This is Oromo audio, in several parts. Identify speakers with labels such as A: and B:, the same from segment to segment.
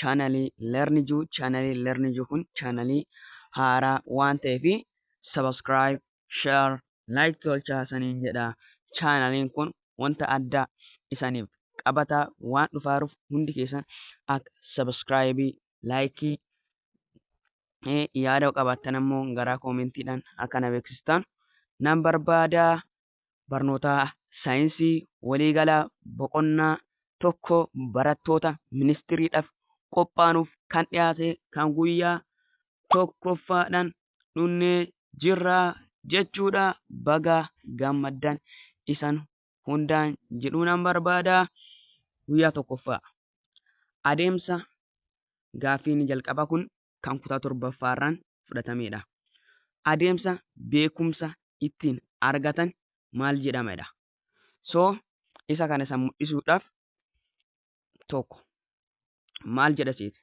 A: chaanalii learn juu chaanalii learn juu kun chaanalii haaraa waan ta'eef subscribe share like tolchaa saniin jedha chaanaliin kun wanta addaa isaniif qabataa waan dhufaaruuf hundi keessan akka subscribe like yaada qabaattan ammoo garaa koomentiidhaan akka na beeksistan nan barbaadaa Barnootaa Saayinsii Waliigalaa Boqonnaa 1 barattoota ministiriidhaf qophaanuuf kan dhiyaate kan guyyaa 1ffaadhan dhunnee jirraa jechuudha baga gammaddan isan hundaan jedhuunan barbaada guyyaa 1ffaa adeemsa gaaffiin jalqaba kun kan kutaa torbaffaarraan fudhatameedha. Adeemsa beekumsa ittiin argatan maal jedhameedha. So isa kana isa mul'isuudhaaf tokko maal jedha seete?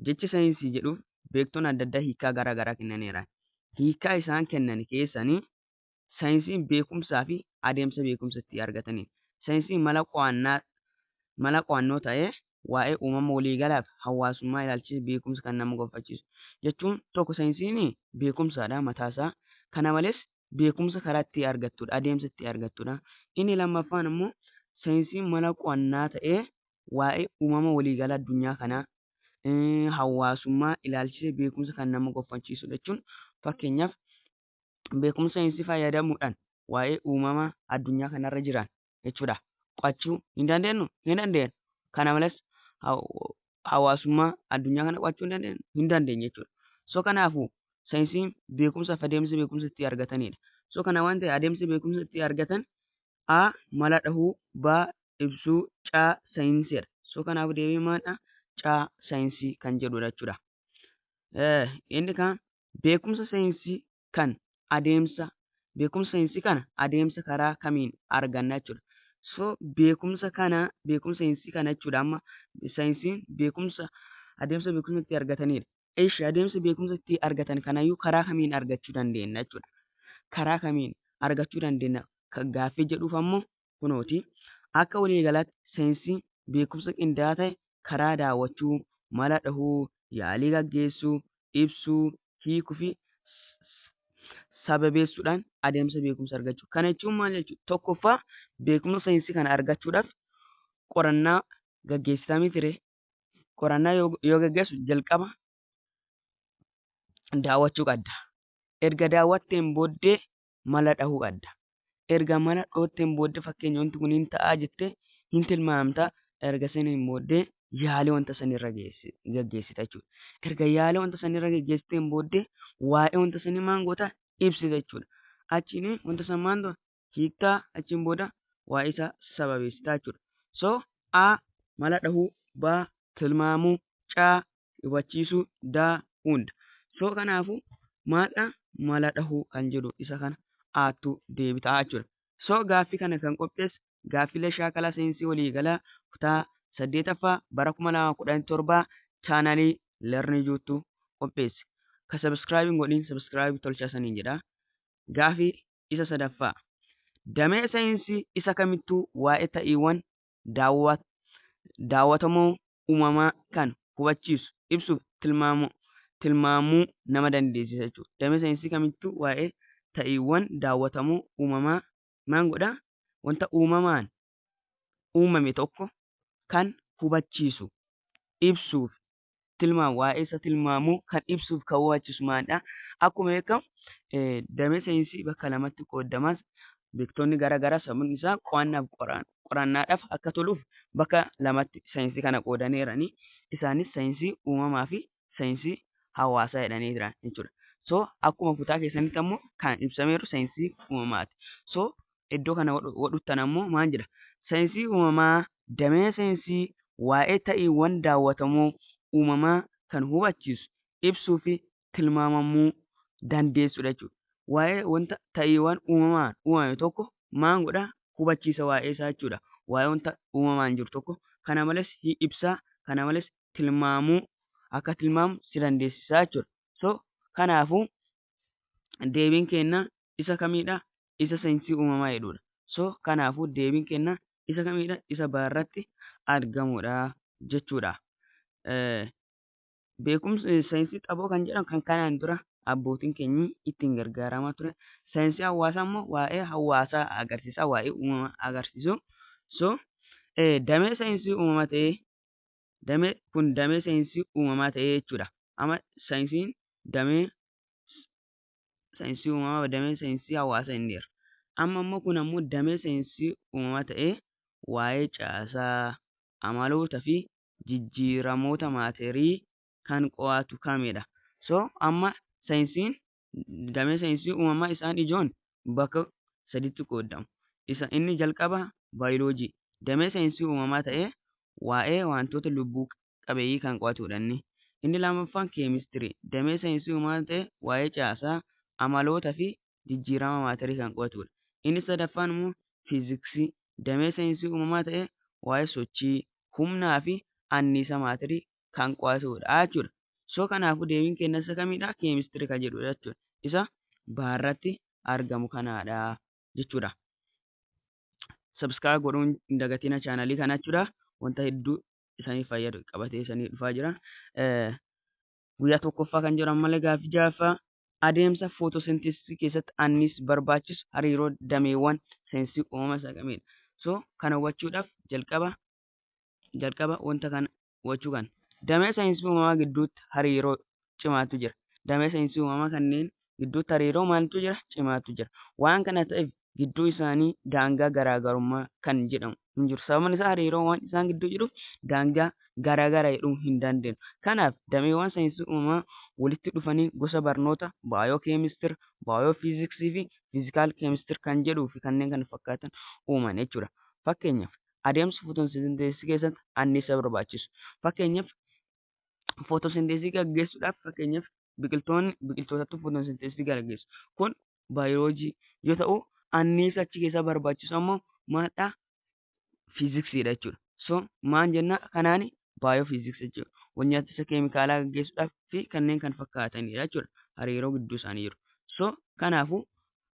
A: Jecha saayinsii jedhuuf beektonni adda addaa hiikaa gara garaa kennaniiru. Hiikaa isaan kennan keessanii Saayinsiin beekumsaa fi adeemsa beekumsa itti argataniin. Saayinsiin mala qo'annaa mala qo'annoo ta'ee waa'ee uumama waliigalaa fi hawaasummaa ilaalchisee beekumsa kan nama gonfachiisu. Jechuun tokko saayinsiin beekumsaadha mataa isaa. Kana malees beekumsa karaa itti argattudha, adeemsa itti argattudha. Inni lammaffaan immoo saayinsiin mala qo'annaa ta'ee waa'ee uumama waliigalaa addunyaa kanaa, hawaasummaa ilaalchisee beekumsa kan nama gonfachiisudha jechuun fakkeenyaaf beekumsa saayinsii fayyadamuudhaan waa'ee uumama addunyaa kanarra jiran jechuudha qo'achuu ni dandeenyu ni dandeenyu kana malees hawaasummaa addunyaa kana qo'achuu ni dandeenyu ni dandeenyu jechuudha so kanaafuu saayinsiin beekumsa fi adeemsa beekumsa itti argatanidha so kana waan ta'e adeemsa beekumsa itti argatan a mala dhahuu ba ibsuu caa saayinsiidha so kanaafuu deebii maadha caa saayinsii kan jedhudha jechuudha inni kaan Beekumsa saayinsii kan adeemsa beekumsa saayinsii kana adeemsa karaa kamiin arganna jechuudha. So beekumsa kana beekumsa saayinsii kana jechuudha amma saayinsiin beekumsa adeemsa beekumsa itti argatanidha. Eshi adeemsa beekumsa itti argatan kanayyuu karaa kamiin argachuu dandeenya jechuudha. Karaa kamiin argachuu dandeenya gaaffii jedhuuf ammoo kunooti. Akka waliigalaatti seensi beekumsa qindaa'aa ta'e karaa daawwachuu, mala dhahuu, yaalii gaggeessuu, ibsuu, hiikuufi sababeessuudhaan adeemsa beekumsa argachuu. Kana jechuun maal jechuudha? Tokkoffaa beekumsa seensi kana argachuudhaaf qorannaa gaggeessitaa mitire. Qorannaa yoo gaggeessu jalqaba daawwachuu qabda. Erga daawwatteen booddee mala dhahuu adda. Erga mala dhootteen booddee fakkeenya wanti kun hin ta'aa jettee hin tilmaamta. Erga saniin booddee yaalii wanta sanirra gaggeessita jechuudha. Erga yaalii wanta sanirra gaggeessiteen booddee waa'ee wanta sanii maan goota ibsita jechuudha. Achiin wanta san maan dura hiiktaa achiin booda waa'ee isaa sababeessitaa jechuudha. So A mala dhahuu, B tilmaamuu, C hubachiisuu da, unda. So kanaafu maaldha mala dhahuu kan jedhu isa kana aattu deebita jechuudha. So gaaffi kana kan qophees gaaffilee shaakala seensi waliigalaa kutaa 8ffaa bara 2017 channel learn juttu qopheesse. Ka subscribe hin godhin subscribe tolcha saniin jedha. Gaafi isa sadaffaa. Damee seensi isa kamittuu waa'ee ta'iiwwan daawwatamuu uumamaa kan hubachiisu, ibsuuf tilmaamuu nama dandeessisa jechuudha. Damee saayinsii kamittuu waa'ee ta'iiwwan daawwatamuu uumamaa maan godha? Wanta uumamaan uumame tokko kan hubachiisu, ibsuuf tilmaama waa'ee isa tilmaamu kan ibsuuf kan waachisu maalidha akkuma beekamu damee saayinsii bakka lamatti qoodamas beektoonni gara garaa sababni isaa qo'annaaf qorannaadhaaf akka toluuf bakka lamatti saayinsii kana qoodanii jiranii isaanis saayinsii uumamaa fi saayinsii hawaasaa jedhanii jiran jechuudha. So akkuma kutaa keessanitti ammoo kan ibsameeru saayinsii uumamaati. So iddoo kana wadhuttan ammoo maal jedha? Saayinsii uumamaa damee saayinsii waa'ee ta'iiwwan daawwatamoo uumamaa kan hubachiisu, ibsuu fi tilmaamamuu dandeessudha jechuudha. Waa'ee wanta ta'iiwwan uumamaan uumame tokko maal godha? Hubachiisa waa'ee isaa jechuudha. Waa'ee wanta uumamaan jiru tokko kana malees hi ibsa, kana malees tilmaamuu akka tilmaamu si dandeessisa jechuudha. So kanaafuu deebiin keenya isa kamiidha? isa sainsii uumamaa jedhuudha. So kanaafuu deebiin kenna isa kamiidha isa baarratti argamuudha jechuudha. Beekumsi sainsii xaboo kan jedhamu kan kanaan dura abbootiin keenyi ittiin gargaaramaa ture. Sainsii hawaasaa immoo waa'ee hawaasaa agarsiisaa waa'ee uumama agarsiisu. So damee sainsii uumama ta'ee damee kun damee sainsii uumamaa ta'ee jechuudha. Amma sainsiin damee saayinsii uumamaa damee saayinsii hawaasa inni jedha. Amma immoo kun ammoo damee saayinsii uumamaa ta'ee waa'ee caasaa, amaloota fi jijjiiramoota maaterii kan qo'atu kamidha? So amma saayinsiin damee saayinsii uumamaa isaan ijoon bakka saditti qooddamu. Isa inni jalqaba baayiloojii damee saayinsii uumamaa ta'ee waa'ee wantoota lubbuu qabeeyyii kan qo'atuudha inni. Inni lammaffaan keemistirii, damee saayinsii uumamaa ta'ee waa'ee caasaa, amaloota fi jijjiirama maatarii kan qo'atuudha. Inni sadaffaan immoo fiiziksii, damee saayinsii uumamaa ta'ee waa'ee sochii, humnaa fi anniisa maatarii kan qo'atuudha jechuudha. So kanaafuu deebiin keenya isa kamiidha? Keemistirii kan jedhuudha jechuudha. Isa baarratti argamu kanaadha jechuudha. subscribe godhuun hin dagatina chaanalii kana jechuudha. Wanta hedduu isaniif fayyadu qabatee isanii dhufaa jira. Guyyaa tokkoffaa kan jiran malee gaaffii jaaffaa adeemsa footoosenteesisii keessatti annis barbaachisu hariiroo dameewwan seensii uumama saaqamedha. So kana hubachuudhaaf jalqaba jalqaba wanta kana hubachuu kan damee saayinsii uumamaa gidduutti hariiroo cimaatu jira. Damee saayinsii uumamaa kanneen gidduutti hariiroo maaltu jira? Cimaatu jira. Waan kana ta'eef gidduu isaanii daangaa garaagarummaa kan jedhamu hin jiru. Sababni isaa hariiroo waan isaan gidduu jiruuf daangaa garaagara jedhuu hin dandeenyu. Kanaaf dameewwan saayinsii uumamaa walitti dhufanii gosa barnoota baayoo keemistir, baayoo fiiziksii fi fiizikaal keemistir kan jedhuu fi kanneen kana fakkaatan uuman jechuudha. Fakkeenyaaf adeemsa footosinteesisii keessatti anniisa barbaachisu. Fakkeenyaaf footosinteesisii gaggeessuudhaaf fakkeenyaaf biqiltoonni biqiltootatti footosinteesisii gaggeessu. Kun baayoloojii yoo ta'u anniisa achi keessaa barbaachisu ammoo maadhaa fiiziksiidha jechuudha. So maal jenna kanaan baayoofiiziksii jechuudha. Wal-nyaatisa keemikaalaa gaggeessuudhaaf fi kanneen kan fakkaatanidha jechuudha. Hariiroo gidduu isaanii jiru. So kanaafuu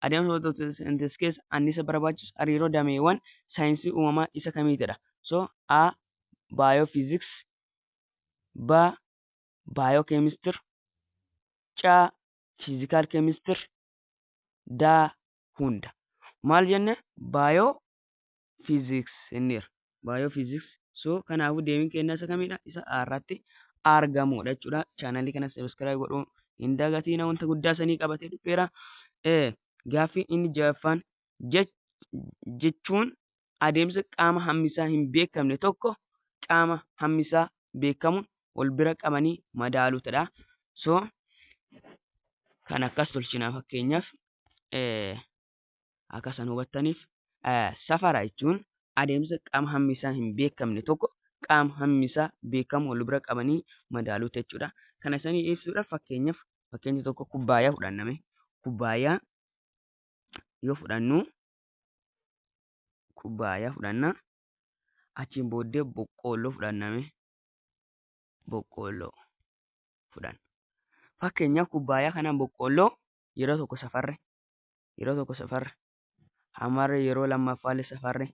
A: Adeemsa walxaxaa in this case anniisa barbaachisu hariiroo dameewwan saayinsii uumamaa isa kamiitidha? So, A. Biophysics B. Biochemistry C. Physical chemistry D. Hunda. Maal jenne? Baayoo physics inniir biophysics so kanaafuu deemin keenya isa kamidha isa irratti argamuudha jechuudha chaanalii kana subscribe godhuu hin dagatiina wanta guddaa sanii qabatee dhufeera ee gaaffiin inni jaffaan jechuun adeemsa qaama hammisaa hin beekamne tokko qaama hammisaa beekamuun wal bira qabanii madaaluutadha so kan akkas tolchina fakkeenyaaf ee Akka san hubattaniif safara jechuun adeemsa qaama hammi isaa hin beekamne tokko qaama hammi isaa beekamu wal bira qabanii madaaluu jechuudha. Kana sanii ibsuudhaaf fakkeenyaaf fakkeenya tokko kubbaayaa fudhanname. Kubbaayaa yoo fudhannu kubbaayaa fudhanna. Achiin booddee boqqoolloo fudhanname. Boqqoolloo fudhanna. Fakkeenyaaf kubbaayaa kanaan boqqoolloo yeroo tokko safarre yeroo tokko safarre hammarre yeroo lammaffaallee safarre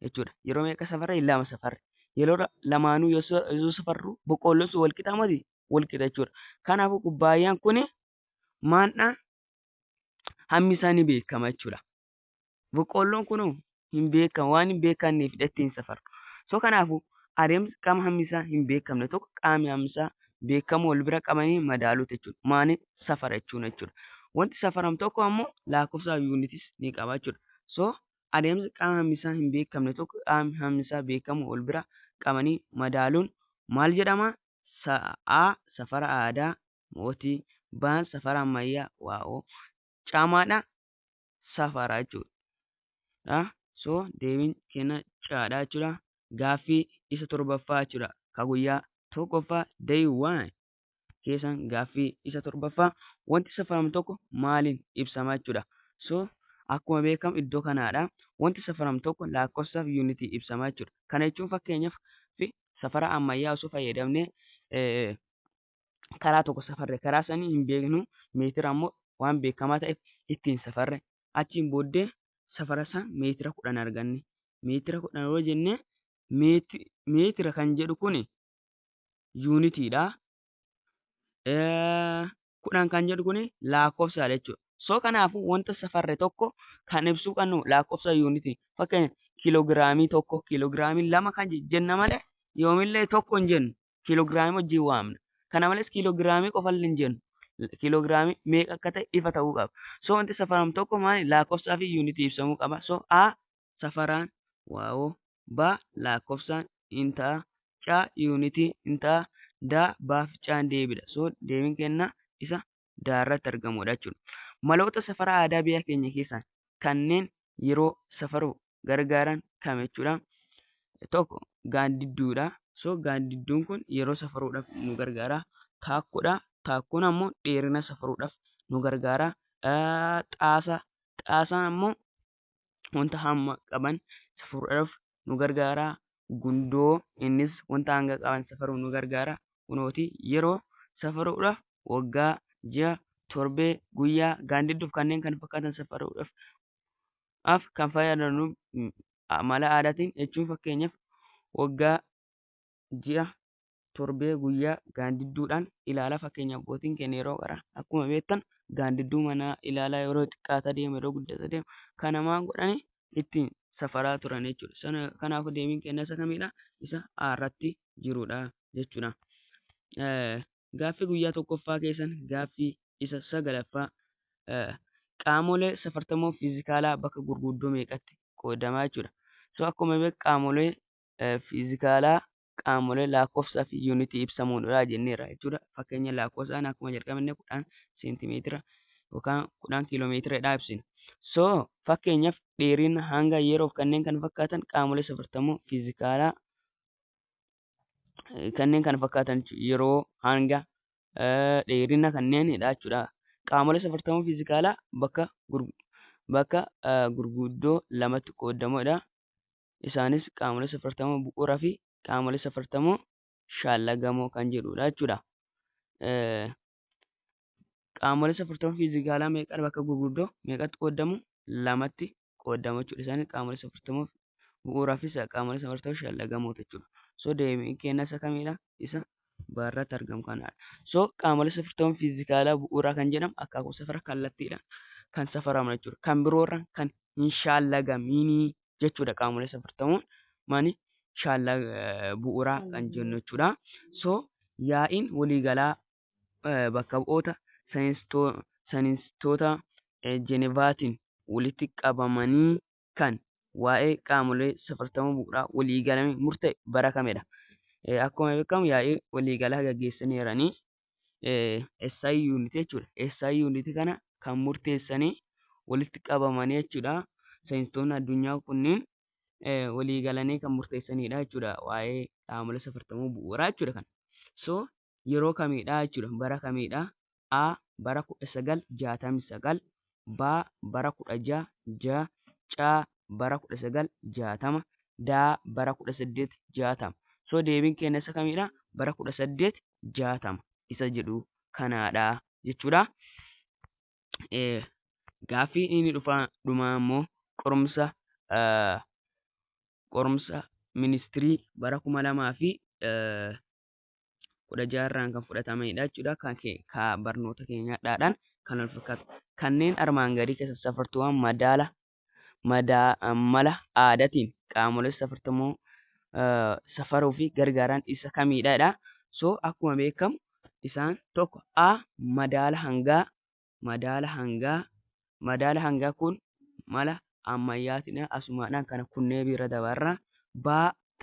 A: jechuudha. Yeroo meeqa safarre? Lama safarre. Yeroo lamaanuu yoo safarru boqqoolloon sun walqixa miti walqixa jechuudha. Kanaafuu kubbaayyaan kun maandhaa hammi isaa ni beekama jechuudha. Boqqoolloon kun hin beekamu waan hin beekanneef dheetti hin safaru. So kanaafu adeemsi qaama hammisaa hin beekamne tokko qaami hammisaa beekamu wal bira qabanii madaaluu jechuudha. Maani safara jechuun jechuudha. Wanti safaram tokko ammoo laakofsaa yuunitis ni qaba jechuudha. So adeemsi qaama hammisaa hin beekamne tokko qaami hammisaa beekamu wal bira qabanii madaaluun maal jedhama? A. Safara aadaa mootii B. Safara ammayyaa waa'oo caamaadha safaraa jechuudha. So deebiin keenya caadha jechuudha. Gaaffii isa torbaffaa jechuudha. Ka guyyaa tokkoffaa day one keessan gaaffii isa torbaffaa wanti safaramu tokko maaliin ibsama jechuudha. So akkuma beekamu iddoo kanaadha. Wanti safaramu tokko lakkoofsaaf yuunitii ibsama jechuudha. Kana jechuun fakkeenyaaf safara ammayyaa osoo fayyadamne karaa tokko safarre karaa sanii hin beeknu meetira ammoo waan beekamaa ta'eef ittiin safarre achiin booddee safara isaa meetira kudhan arganne meetira kudhan yoo jenne meeti- meetira kan jedhu kun yuunitiidha Eh, kudhan kan jedhu kun lakkoofsaadha jechuudha so kanaafuu wanta safarre tokko kan ibsuu qabnu lakkoofsa yuunitii fakkeenya kiilogiraamii tokko kiilogiraamii lama kan jenna malee yoomillee tokko hin jennu kiiloogiraamii wajjin waamna. Kana malees kiiloogiraamii qofallee hin jennu. Kiiloogiraamii meeqa akka ta'e ifa ta'uu qaba. So wanti safaramu tokko maali? Lakkoofsaa fi yuunitii ibsamuu qaba. So A safaraan, waawoo, B lakkoofsaan in ta'a, C yuunitii in ta'a, D baaf caan deebidha. So deebiin kennaa isa daarratti argamudha jechuudha. Maloota safara aadaa biyya keenya keessaa kanneen yeroo safaruuf gargaaran kam jechuudha? Tokko gaaddidduudha. So gaaddidduun kun yeroo safaruudhaaf nu gargaara. Taakkuudha. Taakkuun ammoo dheerina safaruudhaaf nu gargaara. Xaasa. Xaasaan ammoo wanta hamma qaban safaruudhaaf nu gargaara. Gundoo innis wanta hanga qaban safaruuf nu gargaara. Kunooti yeroo safaruudhaaf waggaa, ji'a, torbee, guyyaa, gaandidduuf kanneen kan fakkaatan safaruudhaaf af kan fayyadamnu mala aadaatiin jechuun fakkeenyaaf waggaa ji'a, torbee, guyyaa gaandidduudhaan ilaala. Fakkeenyaaf abbootiin keenya yeroo qaran akkuma beektan gaandidduu manaa ilaalaa yeroo xiqqaataa deemu yeroo guddataa deemu kana maal godhanii ittiin safaraa turan jechuudha. Sana kanaafuu deebiin keenya isa kamidha? Isa A irratti jirudha jechuudha. Eh, Gaaffii guyyaa tokkoffaa keessan gaaffii isa sagalaffaa eh, qaamolee safartamoo fiizikaalaa bakka gurguddoo meeqatti qoodamaa jechuudha. So akkuma beeku qaamolee fiizikaalaa qaamolee lakkoofsaa fi yuunitii ibsamuun irraa jenneerra jechuudha. Fakkeenya lakkoofsaan akkuma jalqabne kudhan seentimeetira yookaan kudhan kiiloomeetiradhaa ibsina. So fakkeenyaaf dheerina hanga yeroof kanneen kan fakkaatan qaamolee safartamuu fiizikaalaa kanneen kan fakkaatan yeroo hanga dheerina kanneenidha jechuudha. Qaamolee safartamuu fiizikaalaa bakka bakka gurguddoo lamatti qoodamudha. Isaanis qaamolee safartamoo bu'uuraa fi qaamolee safartamoo shaallagamoo kan jedhudha jechuudha. Qaamolee safartamoo fiizikaalaa meeqan bakka gurguddoo meeqatti qoodamu? Lamatti qoodamu jechuudha. Isaanis qaamolee safartamoo bu'uuraa fi qaamolee safartamoo shaallagamoo jechuudha. So deebiin keenya isa kamidha? Isa baarratti argamu kanadha. So qaamolee safartamoo fiizikaalaa bu'uuraa kan jedhamu akaakuu safara kallattiidhaan kan safaraman jechuudha. Kan biroorraan kan hin shaallagaminii jechuudha qaamolee safartamoon mani shaallaa eh, bu'uuraa kan jennu jechuudha. So yaa'iin waliigalaa eh, bakka bu'oota saayinstoo- saayinstoota eh, Jenevaatiin walitti qabamanii kan waa'ee qaamolee safartama bu'uuraa waliigalame murta'e bara kamedha. Eh, Akkuma beekamu yaa'ii waliigalaa gaggeessaniiranii SI unit jechuudha. SI unit kana kan murteessanii walitti qabamanii jechuudha. Saayinsistoonni addunyaa kunniin walii galanii kan murteessanidha jechuudha. Waa'ee qaamolee safartamuu bu'uuraa jechuudha kana. So yeroo kamiidha jechuudha bara kamiidha A bara 1969 B bara 16 ja C bara 1960 D bara 1860 so deebiin keenya isa kamiidha bara 18 jaatama isa jedhu kanaadha jechuudha. Gaaffii inni dhufaa dhumaa immoo qorumsa qorumsa ministirii bara kuma lamaa fi kudha jaarraan kan fudhatamedha jechuudha. Kan ka barnoota keenyaadhaan kan wal fakkaatu. Kanneen armaan gadii keessa safartuuwwan madaala mala aadatiin qaamolee safartamoo safaruu fi gargaaran isa kamiidha jedha. So akkuma beekamu isaan tokko A madaala hangaa madaala hangaa madaala hangaa kun mala ammayyaatiidha asumaadhaan kana kunnee biira dabarra. B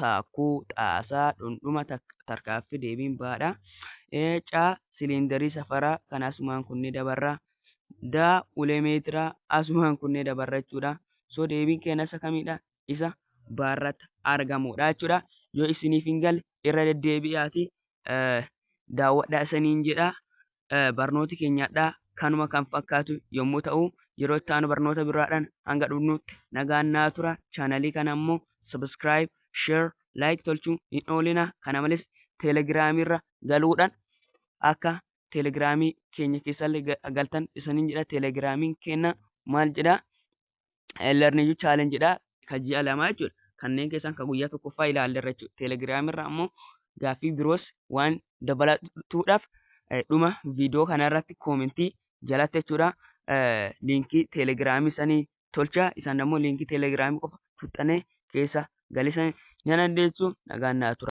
A: taakkuu, xaasaa, dhundhuma, tarkaaffi, deebiin baadha. C. Siliindarii safaraa kan asumaan kunnee dabarra. D. Ulee meetiraa asumaan kunnee dabarra jechuudha. So deebiin keenya isa kamidha? Isa baarratti argamudha jechuudha. Yoo isiniif hin galle irra deddeebi'aati daawwadhaa isiniin jedha. barnooti keenya hadhaa kanuma kan fakkaatu yommuu ta'u yeroo itti aanu barnoota biraadhaan hanga dhufnutti nagaan naa tura chaanalii kana immoo subscribe share like tolchuu hin oolina kana malees telegiraamii irra galuudhaan akka telegiraamii keenya keessallee galtan isaniin jedha telegiraamiin keenya maal jedha learning you challenge dha ka ji'a lamaa jechuudha kanneen keessaan ka guyyaa tokkoffaa ilaallerra jechuudha telegiraam irra ammoo gaaffii biroos waan dabalatuudhaaf dhuma viidiyoo kanarratti koomentii jalatti jechuudha liinkii telegiraamii sanii tolcha isaan ammoo liinkii telegiraamii qofa tuxxanee keessa galisan ni dandeessu nagaan naa tura.